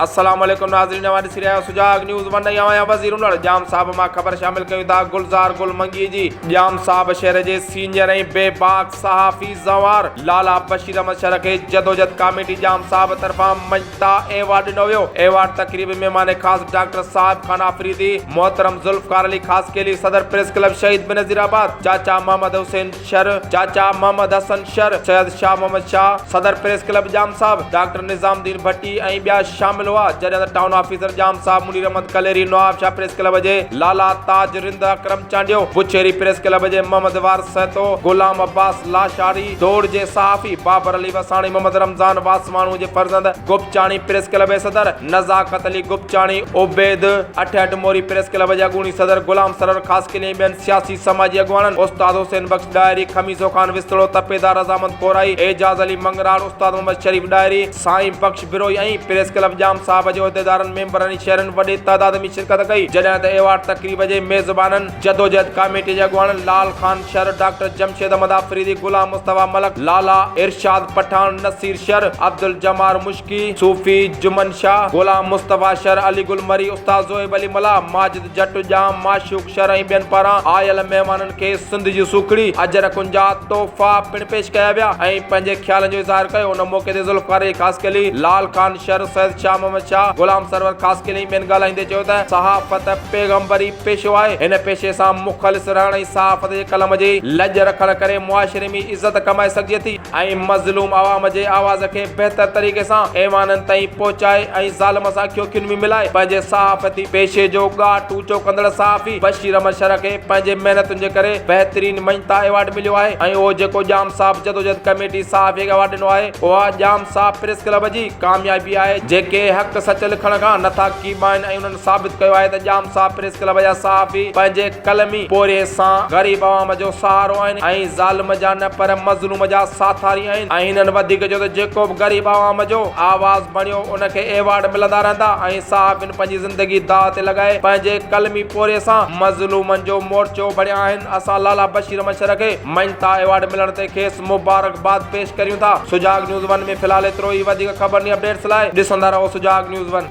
السلام عليڪم ناظرين اوهان ڏسي رهيا آهيو سجاڳ نيوز ون ۽ آهيان وزير انڙ ڄام صاحب مان خبر شامل ڪيون ٿا گلزار گل منگي جي ڄام صاحب شهر جي سينئر ۽ بي باڪ صحافي زنوار لالا بشير احمد شر کي جدوجھد ڪاميٽي ڄام صاحب طرفان مڃتا ايوارڊ ڏنو ويو ايوارڊ تقريب ۾ مهمان خاص ڊاڪٽر صاحب خان آفريدي محترم ذوالفقار علي خاصخيلي صدر پريس ڪلب شهيد بينظير آباد چاچا محمد حسين شر، چاچا محمد حسن شر، سيد شاهه محمد شاهه، صدر پريس ڪلب ڄام صاحب، ڊاڪٽر نظام الدين ڀٽي ۽ ٻيا شامل هئا، جڏهن ته town officer Jam Sahib, Munir Ahmed Kalhiri Nawabshah press club جي لالا تاج رند، اڪرم چانڊيو، بڇيري پريس ڪلب جي محمد وارث سهتو، غلام عباس لاشاري، دور جي صحافي بابر علي وساڻي، محمد رمضان واسواڻو جي فرزند گوپچاڻي پريس ڪلب جي صدر نزاڪت علي گوپچاڻي، عبيد اٺهٺ موري پريس ڪلب جي اڳوڻي صدر غلام سرور خاصخيلي ۽ ٻين سياسي سماجي اڳواڻن استاد حسين بخش ڏاهري، خميسو خان وسطڙو، تپيدار رضامند ڪورائي، اعجاز علي مڱراڻ، استاد محمد شريف ڏاهري، سائين بخش بروهي ۽ پريس ڪلب ڄام صاحب جي عهديدارن، ميمبرن ۽ شهرين وڏي تعداد ۾ شرڪت ڪئي، جڏهن ته ايوارڊ تقريب جي ميزبانن جدوجهد ڪاميٽي جي اڳواڻن لعل خان شر، ڊاڪٽر جمشيد احمد آفريدي، غلام مصطفيٰ ملڪ، لالا، ارشاد پٺاڻ، نصير شر، عبدالجمار مشڪي، صوفي، جمن شاهه، غلام مصطفيٰ شر، علي گل مري، استاد زوهيب علي ملاح، ماجد، جٽ ڄام، معشوق شر ۽ ٻين پاران آيل مهمانن کي سنڌ جي سوکڙي، اجرڪن جا تحفا پڻ پيش ڪيا ويا ۽ پنهنجي خيالن جو اظهار ڪيو. ان موقعي تي ذوالفقار علي خاصخيلي، لال خان شر، سيد شاهه محمد شاهه، غلام سرور خاصخيلي ۽ ٻين ڳالهائيندي چيو ته صحافت پيغمبري پيشو آهي، هن پيشي سان مخلص رهڻ ۽ صحافت جي قلم جي لڄ رکڻ ڪري معاشري ۾ عزت ڪمائي سگهجي ٿي. ۽ مظلوم عوام جي آواز کي بهتر طريقي سان ايوانن تائين پهچائي ۽ ظالم سان اکيون کين ۾ ملائي پنهنجي صحافتي پيشي جو ڳاهه ٽوچو ڪندڙ صحافي بشير احمد شرح کي پنهنجي محنتن جي ڪري بهترين مڃتا ايوارڊ مليو آهي ۽ اهو جيڪو ڄام صاحب جدوجهد ڪميٽي صحافي کي ايوارڊ ڏنو آهي اها ڄام صاحب پريس ڪلب جي ڪاميابي آهي جيڪي حق سچ لکڻ کان نٿا ڪيٻائين ۽ انهن ثابت ڪيو آهي ته ڄام صاحب پريس ڪلب جا صحافي پنهنجي قلمي پورهيي سان غريب عوام جو سهارو آهن ۽ ظالم جا نه پر مظلوم جا ساٿاري آهن ۽ هنن وڌيڪ چيو ته جيڪو به غريب عوام جو آواز بڻيو ان کي ايوارڊ ملندا رهندا ۽ صحافين پنهنجي زندگي داء تي لڳائي پنهنجي قلمي پورهيي سان مظلومن جو مورچو بڻيا آهن اسان لالا بشير مشر کي مڃتا ايوارڊ ملڻ تي کيس مبارڪباد پيش ڪريون ٿا سجاڳ نيوز ون ۾ في الحال ايترو ئي وڌيڪ خبرني اپڊيٽس لاء ڏسندا رهو سجاڳ نيوز ون.